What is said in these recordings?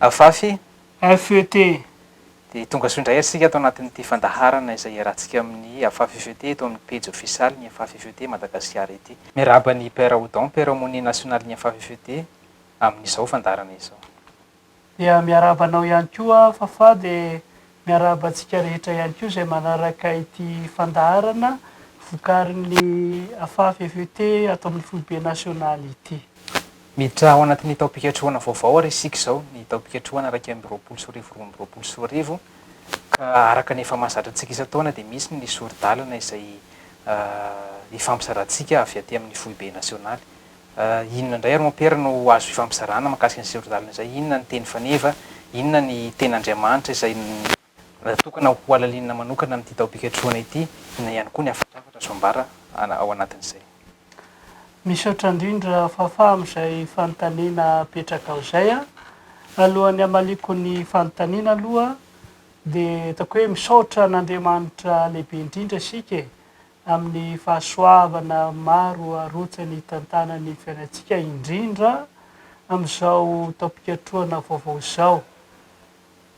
Afafy, FET, dia tonga soa indray isika ato anatin'ity fandaharana izay iarahantsika amin'ny Afafy FET eto amin'ny pejy ofisialy ny Afafy FET Madagasikara ity. Miarahaba an'i Père Odon, Père Aumônier National-n'ny Afafy FET, amin'izao fandaharana izao. Dia miarahaba anao ihany koa aho Fafah dia miarahaba antsika rehetra ihany koa izay manaraka ity fandaharana vokarin'ny AFAFFET ato amin'ny foibe nasionaly ity. Miditra ao anatin'ny taom-pikatrohana vaovao ary isika izao, ny taom-pikatrohana iraika amby roapolo sy roa arivo roa amby roapolo sy roa arivo, ka araka ny efa mahazatra antsika isan-taona dia misy ny sori-dalana izay hifampizarantsika avy aty amin'ny foibe nasionaly. Inona indray ary Mompera no azo ifampizarana mahakasika an'izay ron-dalana izay? Inona ny teny faneva? Inona ny tena Andriamanitra izay natokana hohalalinina manokana amin'ity taom-pikatrohana ity? Inona ihany koa ny hafatrafatra azo ambara ao anatin'izay? Misaotra indrindra Fafa amin'izay fanontaniana apetrakao izay a. Alohan'ny hamaliako ny fanontaniana aloha dia ataoko hoe misaotra an'Andriamanitra lehibe indrindra isika e. amin'ny fahasoavana maro arotsany hitantanany ny fiainantsika, indrindra amin'izao taom-pikatrohana vaovao izao,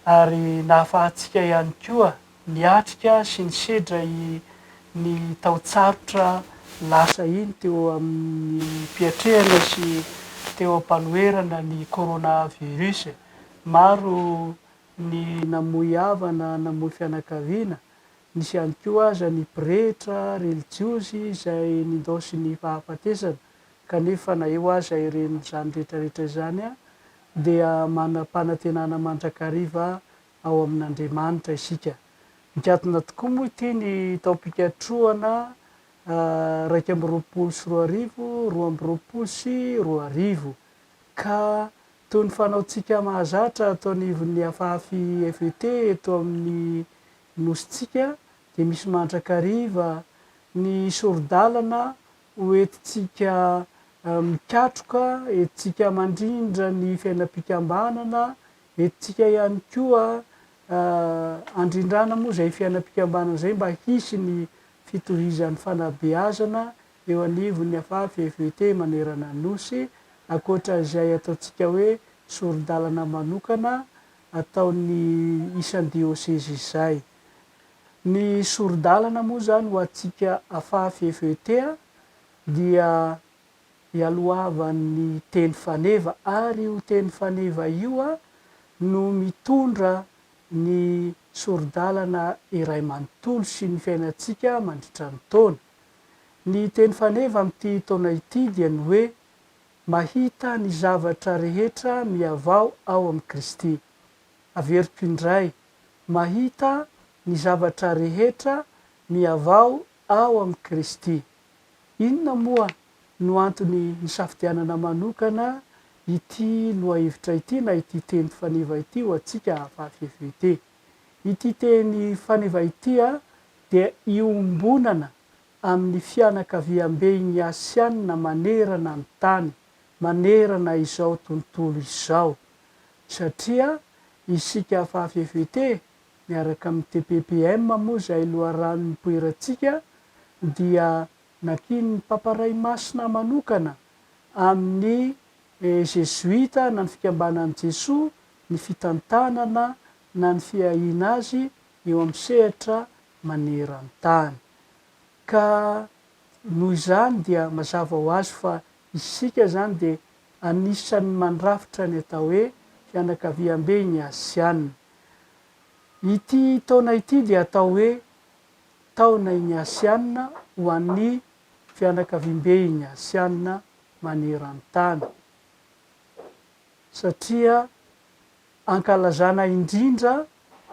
ary nahafahantsika ihany koa niatrika sy nisedra iny taon-tsarotra lasa iny teo amin'ny fiatrehana sy teo am-panoherana ny coronavirus. Maro ny namoy havana, namoy fianakaviana, Nisy ihany koa aza ny pretra relijiozy izay nindaozy ny fahafatesana, kanefa na eo aza ireny izany rehetrarehetra izany dia manam-panantenana mandrakariva ao amin'Andriamanitra isika. Mikatona tokoa moa ity ny taom-pikatrohana iraika amby roapolo sy roa arivo, roa amby roapolo sy roa arivo, ka toy ny fanaontsika mahazatra ato anivon'ny Afafi FET eto amin'ny Nosintsika dia misy mandrakariva ny sori-dalana ho entintsika mikatroka, entintsika mandrindra ny fiainam-pikambanana, entintsika ihany koa andrindrana moa izay fiainam-pikambanana izay mba hisy ny fitohizan'ny fanabeazana eo anivon'ny Afaha FEVT manerana ny Nosy, ankoatra izay ataontsika hoe sori-dalana manokana ataon'ny isan-diosezy izay. Ny sori-dalana moa izany ho antsika afafy FET dia ialohavan'ny teny faneva ary io teny faneva io no mitondra ny sori-dalana iray manontolo sy ny fiainantsika mandritra ny taona. Ny teny faneva amin'ity taona ity dia ny hoe Mahita ny zavatra rehetra mihavao ao amin'i Kristy. Averiko indray, mahita ny zavatra rehetra mihavao ao amin'i Kristy. Inona moa no antony nisafidianana manokana ity lohahevitra ity na ity teny faneva ity ho antsika avafy FVT? Ity teny faneva ity dia iombonana amin'ny fianakaviamben'ny Asiana manerana ny tany, manerana izao tontolo izao. Satria isika afa FFVT, miaraka amin'ny TPPM moa izay loharano nipoirantsika, dia nankinin'ny Papa Ray Masina manokana amin'ny Jezoita na ny Fikambanan'i Jesoa ny fitantanana na ny fiahiana azy eo amin'ny sehatra maneran-tany. Ka noho izany dia mazava ho azy fa isika izany dia anisan'ny mandrafitra ny atao hoe fianakaviambe ny Asiana. Ity taona ity dia atao hoe taona iny Asiana ho an'ny fianakaviambe iny Asiana maneran-tany satria Ankalazana indrindra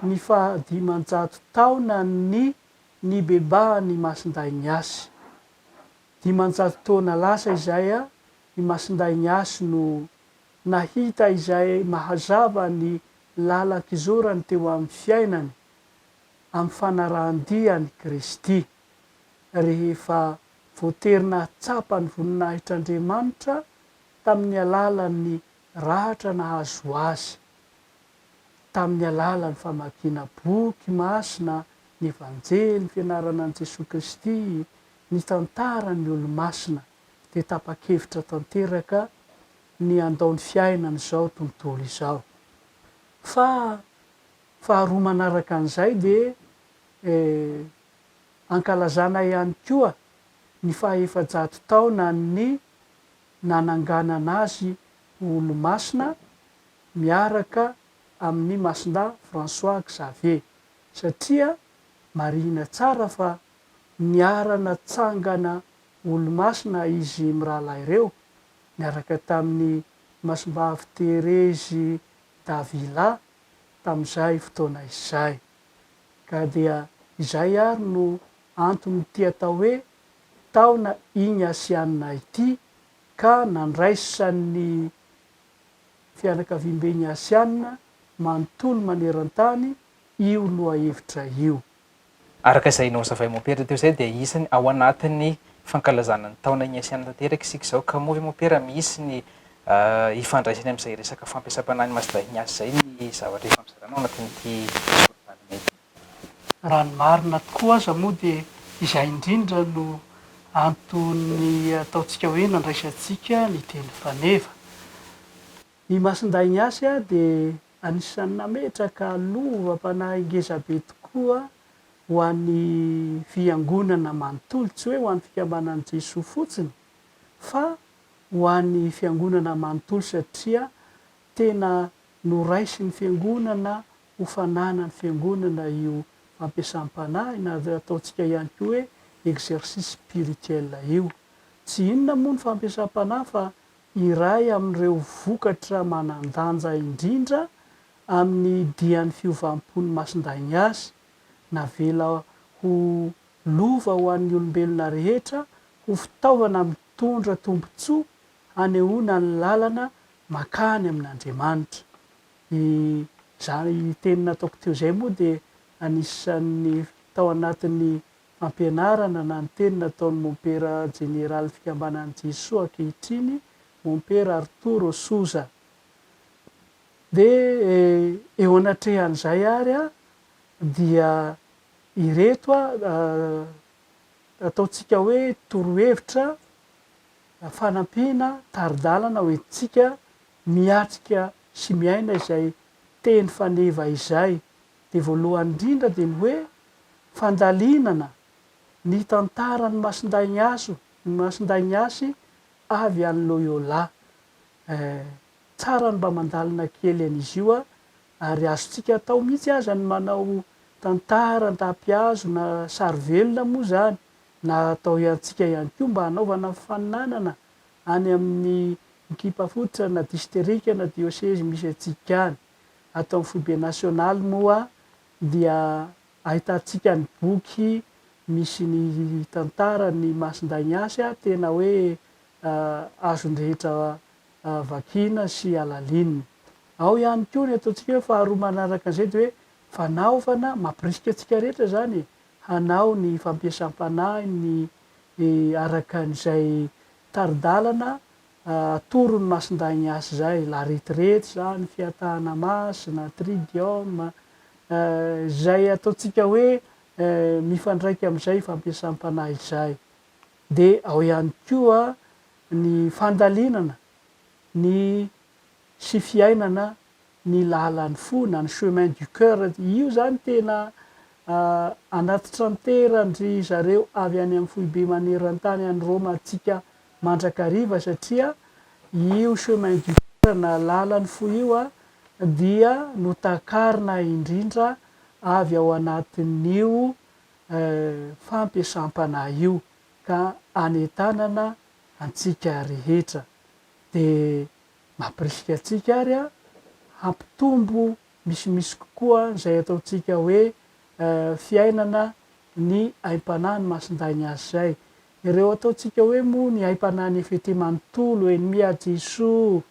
ny faha dimanjato taonan'ny nibebahan'i Masindahy Nyasy. Dimanjato taona lasa izay i Masindahy Nyasy no nahita izay mahazava ny lalan-kizorany teo amin'ny fiainany amin'ny fanarahan-dia an'i Kristy, rehefa voatery nahatsapa ny voninahitr'Andriamanitra tamin'ny alalan'ny Rahatra nahazo azy tamin'ny alalan'ny famakiana boky masina, ny Vanjely, fianarana an'i Jesoa Kristy, ny tantaran'ny Olomasina, dia tapa-kevitra tanteraka ny handao ny fiainany izao tontolo izao. Fa faharoa manaraka an'izay dia ankalazana ihany koa ny faha-efajato taonan'ny nananganana azy ho olomasina miaraka amin'i Masindahy François Xavier satria marihina tsara fa niara-natsangana olomasina izy mirahalahy ireo niaraka tamin'i Masimbavy Therezy Davila tamin'izay fotoana izay. Ka dia izay ary no anton'ity atao hoe taona igny Asianina ity ka nandraisan'ny fianakaviam-ben'i Asianina manontolo maneran-tany io lohahevitra io. Araka izay nozavain'i Mompera teo izay dia isany ao anatin'ny fankalazana ny taona igny Asianina tanteraka isika izao ka moa ve Mompera misy ny hifandraisany amin'izay resaka fampiasam-panahin'i Masdahigna azy izay ny zavatra efa mizara anao ao anatin'ity forom-panontaniana ity? Raha ny marina tokoa aza moa dia izay indrindra no anton'ny ataontsika hoe nandraisantsika ny teny faneva. I Masindahy Ignace dia anisan'ny nametraka lovam-panahy ngezabe tokoa ho an'ny Fiangonana manontolo, tsy hoe ho an'ny Fikambanan'i Jesoa fotsiny fa ho an'ny Fiangonana manontolo satria tena noraisin'ny Fiangonana ho fananan'ny fiangonana io fampiasam-panahy na zay ataontsika ihany koa hoe exercice spirituel io. Tsy inona moa ny fampiasam-panahy fa iray amin'ireo vokatra manan-danja indrindra amin'ny dian'ny fiovam-pon'ny Masindahy Ignace, navela ho lova ho an'ny olombelona rehetra, ho fitaovana mitondra tombontsoa hanehoana ny lalana makany amin'Andriamanitra. Dia izany teny nataoko teo izay moa dia anisan'ny tao anatin'ny fampianarana na ny teny nataon'ny mompera jeneralin'ny fikambanan'ny Jesoa ankehitriny, mompera Arturo Souza. Dia eo anatrehan'izay àry an, dia ireto ataontsika hoe torohevitra fanampiana, tari-dalana hoentintsika miatrika sy miaina izay teny faneva izay dia voalohany indrindra dia ny hoe fandalinana ny tantaran'i Masindaignaso ny Masindaigniasy avy any Loyola eh tsara ny mba mandalina kely an'izy io a ary azontsika atao mihitsy aza ny manao tantara an-tapihazo na sary velona moa izany na atao iantsika ihany koa mba hanaovana faninanana any amin'ny ekipa fototra na disterika na diosezy misy antsika any. Ato amin'ny foibe nasionaly moa dia ahitantsika ny boky misy ny tantaran'i Masindaignacy tena hoe azon'ny rehetra vakiana sy alalinina. Ao ihany koa ny ataontsika hoe faharoa manaraka an'izay dia hoe fanaovana, mampirisika antsika rehetra izany e, hanao ny fampiasam-panahiny ny araka an'izay tari-dalana atoron'ny masindahin'ny asa izay, la retraite izany, fiatahana masina, tridium, izay ataontsika hoe mifandraika amin'izay fampiasam-panahy izay. Dia ao ihany koa ny fandalinana ny sy fiainana ny lalan'ny fo na ny chemin du coeur io zany tena anaty tranteran-dry zareo avy any amin'ny foibe maneran-tany any Roma antsika mandrakariva satria io chemin du coeur na lalan'ny fo io a dia notakarina indrindra avy ao anatin'io fampiasam-panahy io ka anentanana antsika rehetra de Mampirisika antsika àry hampitombo misimisy kokoa izay ataontsika hoe fiainana ny aim-panahy ny Masindahy ny azy izay. Ireo ataontsika hoe moa ny aim-panahy ny efa ity manontolo, ennemi à Jesoa,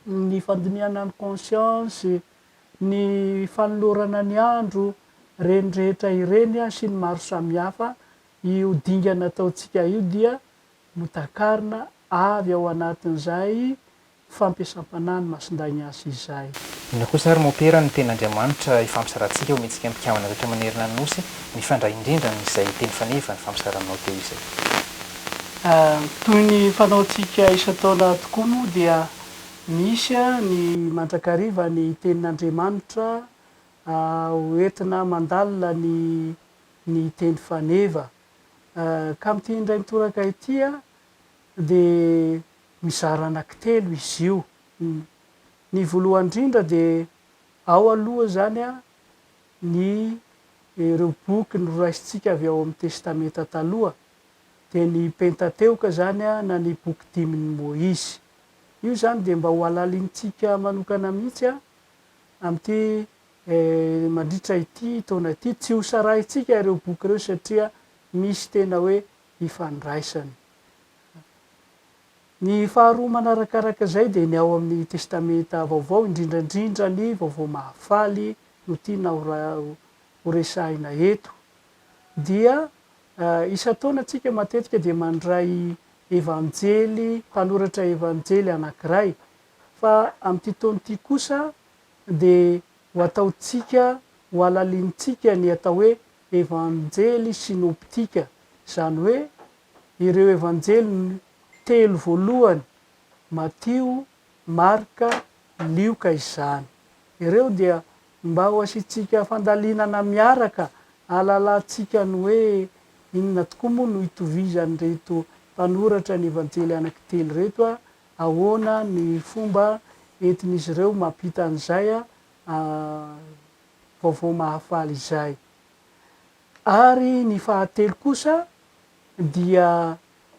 ny fandinihana ny kônsiansy, ny fanolorana ny andro, ireny rehetra ireny sy ny maro samihafa, io dingana ataontsika io dia notakarina avy ao anatin'izay fampiasam-panahy ny Masindahy Ignace izay. Inona kosa ary mopera ny tena Andriamanitra ifampizarantsika ho mihetsika am-pikambana rehetra manerana ny Nosy, mifandray indrindra amin'izay teny faneva nifampizaranao teo izay. Toy ny fanaontsika isan-taona tokoa moa dia misy ny mandrakariva ny Tenin'Andriamanitra ho entina mandalina ny ny teny faneva. Ka amin'ity indray mitoraka ity dia mizara anankitelo izy io. Ny voalohany indrindra dia ao aloha izany ny ireo boky noraisintsika avy ao amin'ny Testamenta Taloha, dia ny Pentateoka izany na ny Boky dimin'i Moizy. Io izany dia mba hohalalinintsika manokana mihitsy amin'ity Mandritra ity taona ity, tsy hosarahintsika ireo boky ireo satria misy tena hoe ifandraisany. Ny faharoa manarakaraka izay dia ny ao amin'ny Testamenta Vaovao, indrindra indrindra ny Vaovao Mahafaly no tiana horesahina eto. Dia isan-taona antsika matetika dia mandray Evanjely, mpanoratra Evanjely anankiray. Fa amin'ity taona ity kosa dia ho ataontsika, ho alalinintsika ny atao hoe Evanjely sinoptika, izany hoe ireo Evanjely telo voalohany, Matio, Marka, Lioka izany. Ireo dia mba ho asiantsika fandalinana miaraka, hahalalantsika ny hoe inona tokoa moa no itovizan'ireto mpanoratra ny Evanjely anankitelo ireto, Ahoana ny fomba entin'izy ireo mampita an'izay vaovao mahafaly izay? Ary ny fahatelo kosa dia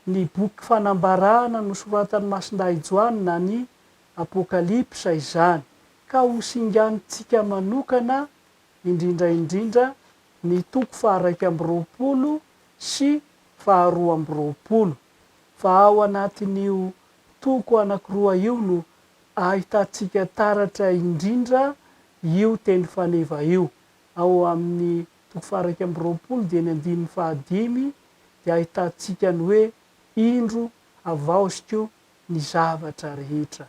ny boky fanambarana nosoratan'i Masindahy Joany na ny Apokalypsa izany, ka ho singanintsika manokana indrindra indrindra ny toko faha-raika amby roapolo sy faha-roa amby roapolo. fa ao anatin'io toko anankiroa io no ahitantsika taratra indrindra io teny faneva io. Ao amin'ny toko faha-iraika amby roapolo dia ny andininy fahadimy dia ahitantsika ny hoe indro havaoziko ny zavatra rehetra.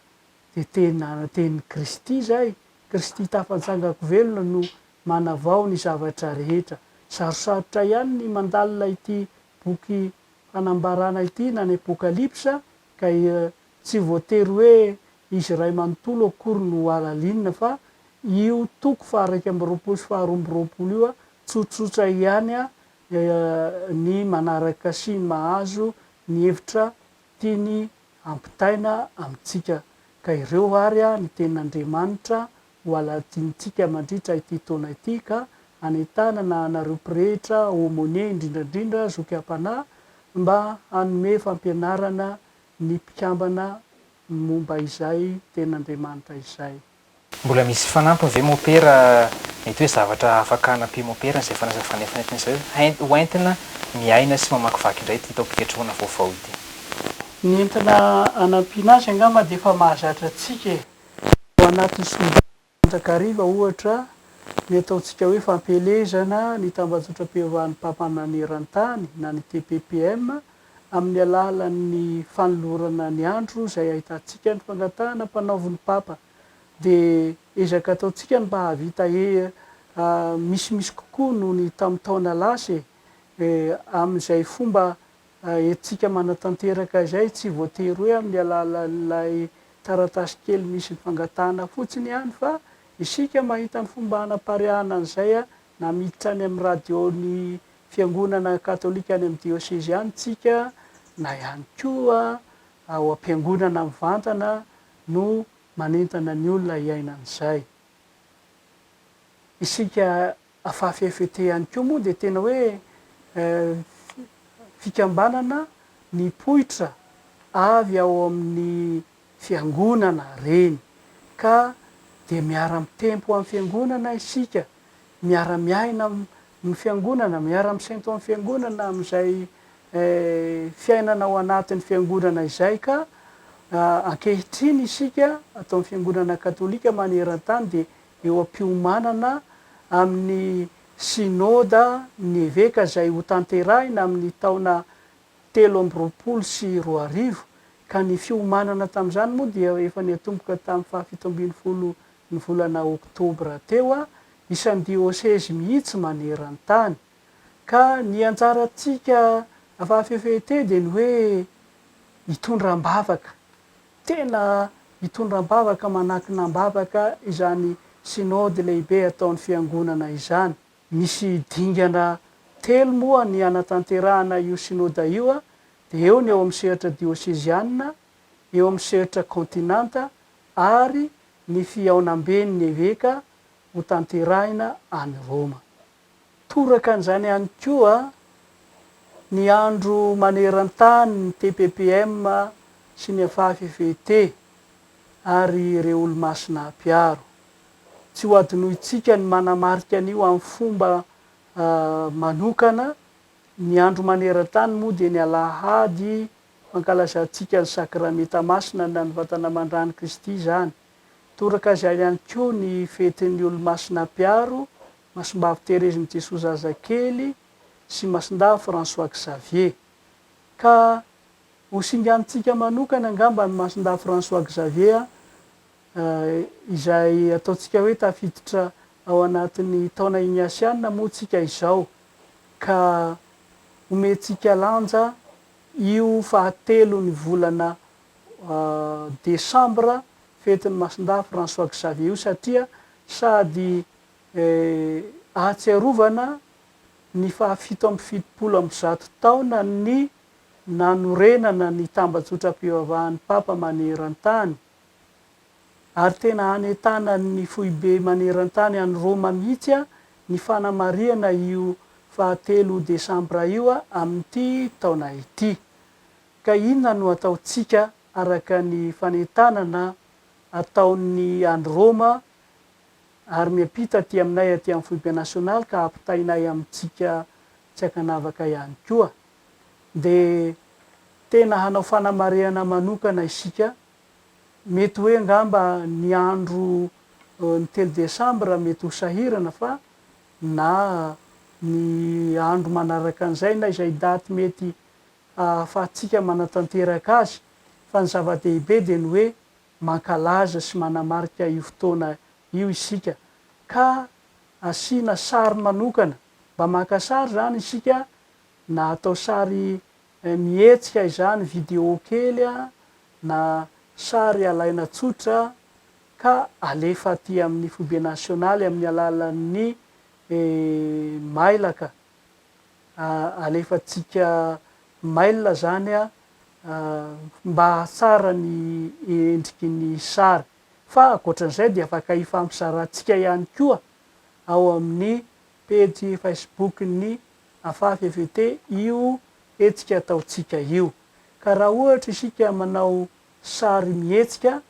Dia tena tenin'i Kristy izay, Kristy tafantsangako velona no manavao ny zavatra rehetra. Sarosarotra ihany ny mandalina ity boky fanambarana ity na ny Apokalypsa ka tsy voatery hoe izy iray manontolo akory no halalinina fa io toko faha-iraika amby roapolo sy faha-roa amby roapolo io tsotsotra ihany ny manaraka sy ny mahazo ny hevitra tiany hampitaina amintsika ka ireo ary ny tenin'Andriamanitra ho alahatsinintsika mandritra ity taona ity ka hanentanana anareo pretra, aumônier indrindra indrindra zoky am-panahy mba hanome fampianarana ny mpikambana momba izay Tenin'Andriamanitra izay. Mbola misy fanampiny ve mopera? Mety hoe zavatra afaka hanampian'i mopera izay fanazavana efa nentin'i Zaius ho entina miaina sy mamakivaky indray ity taom-pikatrohana vaovao ity. Ny entina hanampiana azy angamba dia efa mahazatra antsika e! Ao anatin'ny sombin'ny mandrakariva, ohatra, ny ataontsika hoe fampielezana ny tambajotram-piovahan'ny mpampamana eran-tany na ny TPPM amin'ny alalan'ny fanolorana ny andro izay ahitantsika ny fangatahana ampanaovin'ny Papa dia ezaka ataontsika ny mba hahavita misimisy kokoa noho ny tamin'ny taona lasa e, amin'izay fomba Haintsika manatanteraka izay tsy voatery hoe amin'ny alalan'ilay taratasy kely misy ny fangatahana fotsiny ihany fa isika mahita ny fomba hanapariahana an'izay na miditra any amin'ny radio-n'ny fiangonana katolika any amin'ny diosezy ihany isika na ihany koa ao am-piangonana mivantana no manentana ny olona hiaina an'izay isika Fa FET ihany koa moa dia tena hoe fikambanana nipoitra avy ao amin'ny fiangonana reny ka dia miara-mitempo amin'ny fiangonana isika, miara-miaina amin'ny fiangonana, miara-misento amin'ny fiangonana amin'izay fiainana ao anatin'ny fiangonana izay ka ankehitriny isika ato amin'ny fiangonana katolika maneran-tany dia eo am-piomanana amin'ny Synoda ny Eveka izay hotanterahina amin'ny taona telo amby roapolo sy roa arivo, ka ny fiomanana tamin'izany moa dia efa niatomboka tamin'ny fahafito ambin'ny folo ny volana Oktobra teo, isan'ny diôsezy mihitsy maneran-tany. Ka ny anjarantsika Afafff dia ny hoe hitondra am-bavaka. tena hitondra am-bavaka manakina am-bavaka izany Synode lehibe ataon'ny Fiangonana izany. Misy dingana telo moa ny hanatanterahana io Synode io, dia eo ny ao amin'ny sehatra diosezianina, eo amin'ny sehatra kaontinanta ary ny fihaonamben'ny eveka hotanterahina any Roma. Toraka an'izany ihany koa ny andro maneran-tany ny TPPM sy ny FAFVT ary ireo Olomasina mpiaro. Tsy ho adinointsika ny manamarika an'io amin'ny fomba manokana. Ny andro maneran-tany moa dia ny alahady fankalazantsika ny Sakramenta Masina na ny Vatana Aman-dRan'i Kristy izany. Toraka izany ihany koa ny fetin'ny Olomasina mpiaro Masimbavy Terezin'i Jesoa Zazakely sy Masindahy François Xavier. Ka ho singanintsika manokana angamba an'i Masindahy François Xavier izay ataontsika hoe tafiditra ao anatin'ny taona Ignasiana moa tsika izao ka omentsika lanja io fahatelon'ny volana desambra fetin'i Masindahy François Xavier io satria sady Ahatsiarovana ny fahafito amby fitopolo amby zato taonan'ny nanorenana ny tambajotram-pivavahan'ny Papa maneran-tany, ary tena hanentanan'ny Foibe maneran-tany any Roma mihitsy ny fanamarihana io faha telo desambra io amin'ity taona ity. Ka inona no ataontsika araka ny fanentanana ataon'ny any Roma Ary miampita aty aminay aty amin'ny foibe nasionaly ka ampitainay amintsika tsy ankanavaka ihany koa. Dia tena hanao fanamarihana manokana isika, mety hoe angamba ny andro ny telo desambra mety ho sahirana fa na ny andro manaraka an'izay na izay daty mety hahafahantsika manatanteraka azy. Fa ny zava-dehibe dia ny hoe Mankalaza sy manamarika io fotoana io isika ka asiana sary manokana, mba maka sary izany isika na atao sary mihetsika izany, video kely na sary alaina tsotra ka alefa aty amin'ny Foibe Nasionaly amin'ny alalan'ny mailaka. alefantsika mail zany a mba hahatsara ny endriky ny sary. Fa ankoatran'izay dia afaka hifampizarantsika ihany koa ao amin'ny pejy Facebook-n'ny Afafy FET io hetsika ataontsika io. Ka raha ohatra isika manao sary mihetsika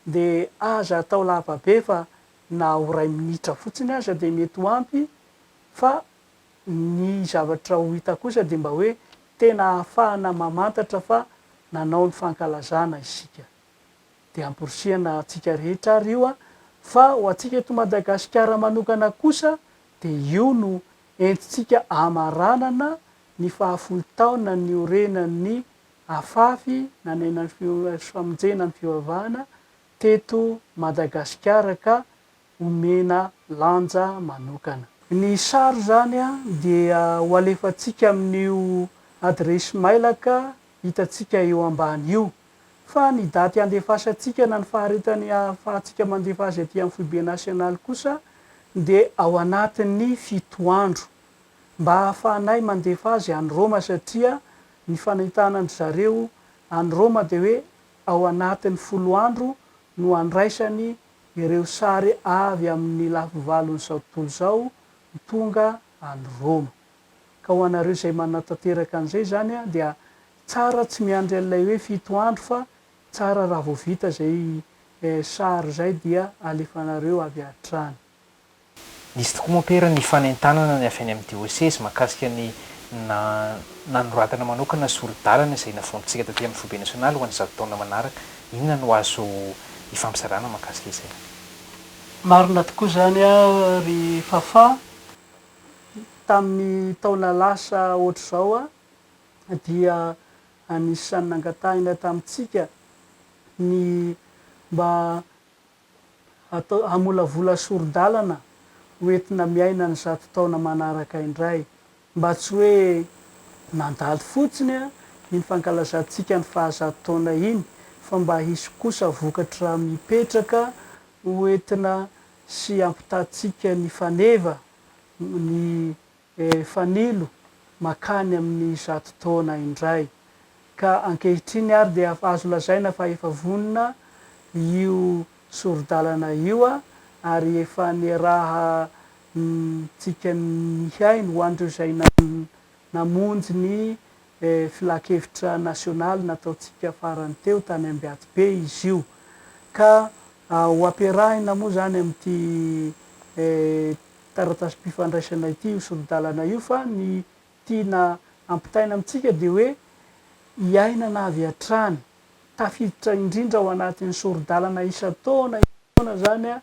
dia aza atao lava be fa na ho iray minitra fotsiny aza dia mety ho ampy Fa ny zavatra ho hita kosa dia mba hoe tena ahafahana mamantatra fa nanao ny fankalazana isika. Dia amporisihana antsika rehetra ary io an! Fa ho antsika eto Madagasikara manokana kosa dia io no entintsika amaranana ny fahafolo taona niorenan'ny afafy nanenan'ny fifamonjena ny fivavahana teto Madagasikara ka omena lanja manokana. Ny sary izany dia ho alefantsika amin'io adiresy mailaka hitantsika eo ambany io. Fa ny daty handefasantsika na ny faharetany ahafahantsika mandefa azy aty amin'ny Foibe Nasionaly kosa dia ao anatin'ny fito andro. Mba ahafahanay mandefa azy any Roma satria ny fanentana an-dry zareo any Roma dia hoe ao anatin'ny folo andro no andraisany ireo sary avy amin'ny lafivalon'izao tontolo izao ho tonga any Roma. Ka ho anareo izay manatanteraka an'izay izany dia tsara tsy miandry an'ilay hoe fito andro fa tsara raha vao vita izay sary izay dia alefanareo avy hatrany. Nisy tokoa moa Pera ny fanentanana ny avy any amin'ny dioseza mahakasika ny nanoratana manokana sori-dalana izay navoampitsika taty amin'ny Foibe Nasionaly ho an'ny zato taona manaraka. Inona no azo ifampizarana mahakasika izay? Marina tokoa izany ry Fafà, tamin'ny taona lasa ohatr'izao dia anisan'ny nangatahina tamintsika ny mba atao hamolavola sori-dalana ho entina miaina ny zato taona manaraka indray, mba tsy hoe nandalo fotsiny iny fankalazantsika ny fahazato taona iny, fa mba hisy kosa vokatra mipetraka ho entina sy hampitatsika ny faneva, ny. Dia fanilo makany amin'ny zato taona indray. Ka ankehitriny ary dia azo lazaina fa efa vonona io sori-dalana io ary efa niarahantsika nihaino ho an'ireo izay namonjy ny filankevitra nasionaly nataontsika farany teo tany Ambiato-be izy io. Ka ho ampiarahina moa izany amin'ity taratasim-pifandraisana ity io sori-dalana io fa ny tiana ampitaina amintsika dia hoe iainana avy hatrany, tafiditra indrindra ao anatin'ny sori-dalana isan-taona isan-taona izany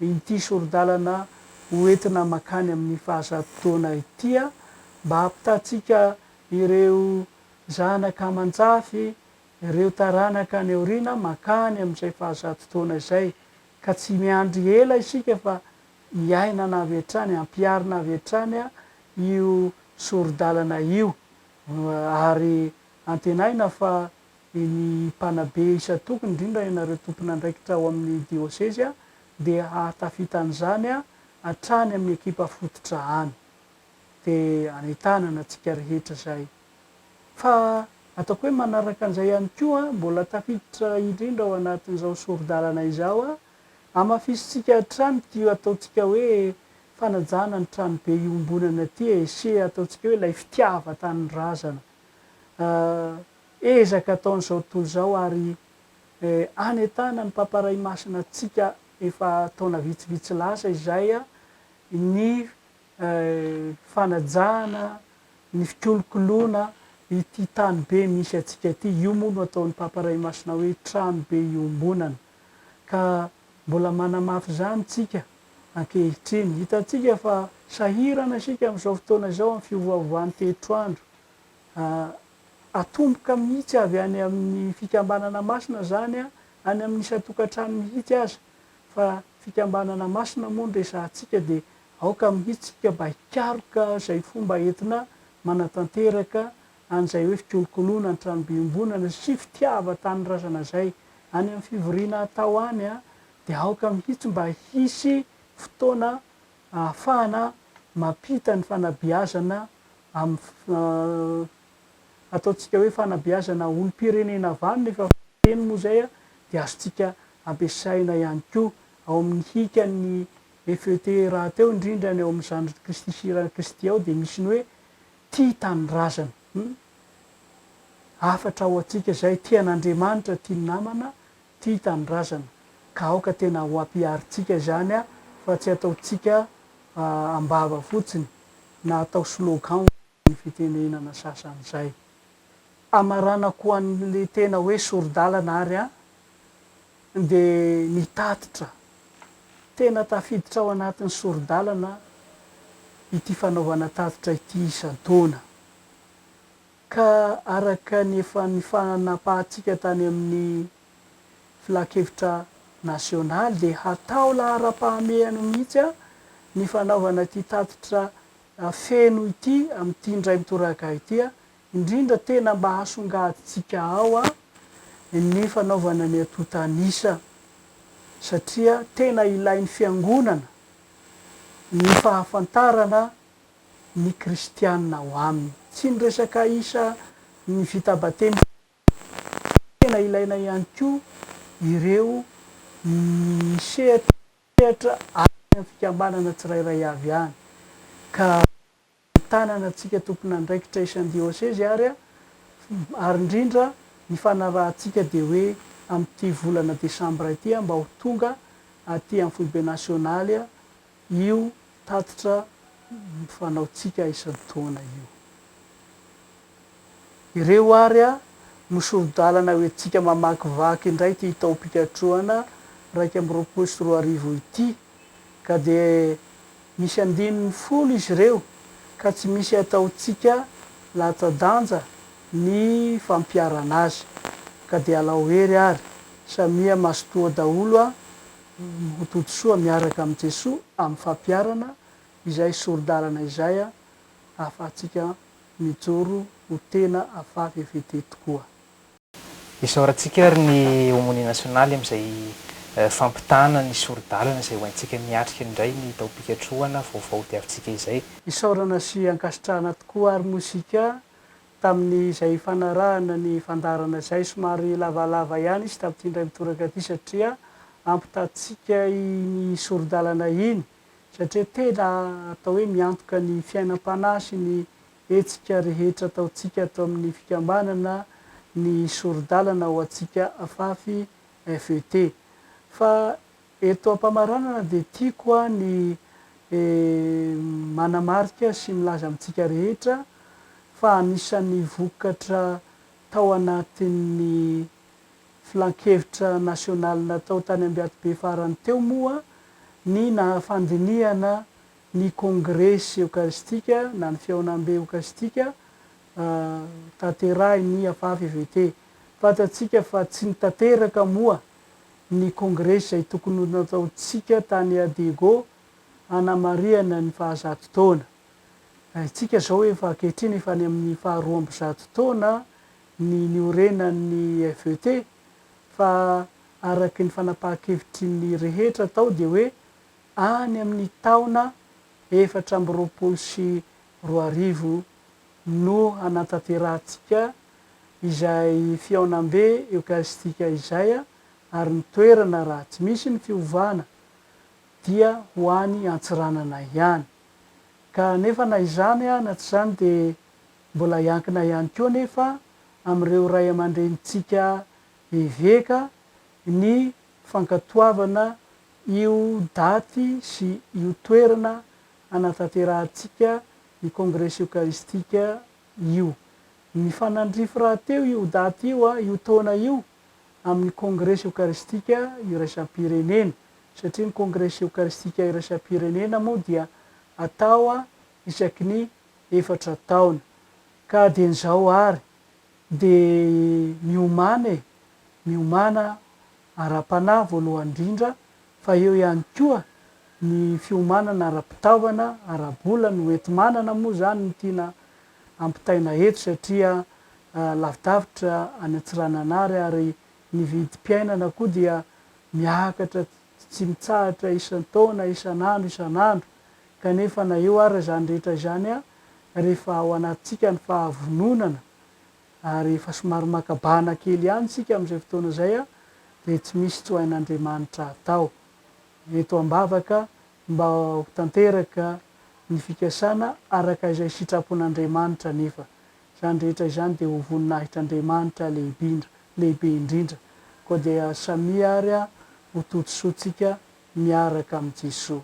ity sori-dalana ho entina mankany amin'ny fahazato taona ity mba hampitatsika ireo zanaka aman-jafy, ireo taranaka any aoriana mankany amin'izay fahazato taona izay ka tsy miandry ela isika fa hiainana avy hatrany, hampiharina avy hatrany io sori-dalana io, ary antenaina fa ny mpanabe isan-tokony, indrindra ianareo tompon'andraikitra ao amin'ny diosezy, dia hahatafita an'izany hatrany amin'ny ekipa fototra any, dia anentanana antsika rehetra izay. Fa ataoko hoe manaraka an'izay ihany koa, mbola tafiditra indrindra ao anatin'izao sori-dalana izao, Hamafisintsika hatrany ity ataontsika hoe fanajana ny tranobe iombonana ity e, sy ataontsika hoe ilay fitiavan-tanindrazana ezaka ataon'izao tontolo izao ary hanentana ny Papa Ray Masina antsika efa taona vitsivitsy lasa izay ny fanajana, ny fikolokoloana ity tanibe misy antsika ity. Io moa no ataon'ny Papa Ray Masina hoe tranobe iombonana. ka mbola manamafy izany tsika ankehitriny. Hitantsika fa sahirana isika amin'izao fotoana izao amin'ny fiovaovan'ny toetroandro. Atomboka mihitsy avy any amin'ny fikambanana masina izany, any amin'ny isan-tokantrano mihitsy aza, fa fikambanana masina moa no resahantsika dia aoka mihitsy isika mba hikaroka izay fomba entina manatanteraka an'izay hoe fikolokoloana ny tranobe iombonana sy fitiavan-tanindrazana izay any amin'ny fivoriana atao any dia aoka mihitsy mba hisy fotoana ahafahana mampita ny fanabeazana amin'ny ataontsika hoe fanabeazana olom-pirenena avy any nefa fiteny moa izay dia azontsika ampiasaina ihany koa ao amin'ny hikan'ny FET rahateo indrindra ny ao amin'ny zandriny Kristy sy eran'i Kristy ao dia misy ny hoe Tia tanindrazana. Humm. Hafatra ho antsika izay tia an'Andriamanitra, tia ny namana, tia tanindrazana. Ka aoka tena ho ampiharintsika izany fa tsy ataontsika am-bava fotsiny na atao slogan ny fitenenana sasany izay. Hamaranako an'ilay tena hoe sori-dalana ary an! dia nitatitra tena tafiditra ao anatin'ny sori-dalana ity fanaovana tatitra ity isan-taona, ka araka ny efa nifanapahantsika tany amin'ny Filankevitra nasionaly dia hatao laharam-pahamehana mihitsy ny fanaovana ity tatitra feno ity amin'ity indray mitoraka ity indrindra tena mba hasongadintsika ao a ny fanaovana ny antontan'isa satria tena ilain'ny fiangonana ny fahafantarana ny kristianina ao aminy, tsy ny resaka isa ny vita batemy fotsiny fa tena ilaina ihany koa ireo ny sehatra sehatra any amin'ny fikambanana tsirairay avy any ka. ny tanana antsika tompon'andraikitra isan'ny diosezy ary ary indrindra ny fanarahantsika dia hoe amin'ity volana desambra ity mba ho tonga aty amin'ny foibe nasionaly io tatitra fanaontsika isan-taona io. Ireo ary no sori-dalana hoentintsika mamakivaky indray ity taom-pikatrohana iraika amby roapolo sy roa arivo ity, ka dia misy andininy folo izy ireo ka tsy misy hataontsika latsa-danja ny fampiharana azy, ka dia alao hery ary samia mazotoa daholo ho todisoa miaraka amin'i Jesoa amin'ny fampiharana izay sori-dalana izay ahafahantsika mijoro ho tena avavevete tokoa. Isaorantsika ary ny Homonia Nasionaly amin'izay fampitana ny sori-dalana izay ho haintsika miatrika indray ny taom-pikatrohana vaovao diavintsika izay. Isaorana sy ankasitrahana tokoa ary moa isika tamin'izay fanarahana ny fandaharana izay. Somary lavalava ihany izy tamin'ity indray mitoraka ity satria ampitatsika iny sori-dalana iny. satria tena atao hoe miantoka ny fiainam-panahy sy ny hetsika rehetra ataontsika ato amin'ny fikambanana ny sori-dalana ho antsika afafy FET. Fa eto am-pamaranana dia tiako aho ny manamarika sy milaza amintsika rehetra fa anisan'ny vokatra tao anatin'ny Filankevitra nasionaly natao tany Ambiatobe farany teo moa ny nahafandinihana ny Kongresy eokaristika na ny Fihaonambe eokaristika tanterahin'ny AFAFVT. Fantatsika fa tsy nitateraka moa ny Kongresy izay tokony ho nataontsika tany à Diego hanamarihana ny fahazato taona. Isika izao efa ankehitriny efa any amin'ny faharoa amby zato taona ny niorenan'ny FET fa araky ny fanapahan-kevitry ny rehetra tao dia hoe any amin'ny taona efatra amby roapolo sy roa arivo no hanatanterahantsika izay fihaonambe eokaristika izay ary ny toerana raha tsy misy ny fiovana dia ho any Antsiranana ihany ka nefa na izany na tsy izany dia Mbola hiankina ihany koa anefa amin'ireo ray aman-drenintsika eveka ny fankatoavana io daty sy io toerana hanatanterahantsika ny Kongresy Eokaristika io. Nifanandrify rahateo io daty io, io taona io, amin'ny Kongresy Eokaristika Iraisam-pirenena, satria ny Kongresy Eokaristika Iraisam-pirenena moa dia atao isaky ny efatra taona, ka dian'izao àry dia miomàna e, miomàna ara-panahy voalohany indrindra, fa eo ihany koa ny fiomanana ara-pitaovana, ara-bola, ny hoenti-manana moa izany no tiana ampitaina eto satria lavidavitra any Antsiranana àry, ary ny vidim-piainana koa dia miakatra tsy mitsahatra isan-taona, isan'andro, isan'andro, Kanefa na eo ary izany rehetra izany, rehefa ao anatintsika ny fahavononana ary efa somary maka bahana kely ihany isika amin'izay fotoana izay, dia tsy misy tsy ho hain'Andriamanitra hatao. Eto am-bavaka mba ho tanteraka ny fikasana araka izay sitrapon'Andriamanitra anefa. Izany rehetra izany dia ho voninahitr'Andriamanitra lehibindra, lehibe indrindra. Koa dia samia ary ho totsoantsika miaraka amin'i Jesoa.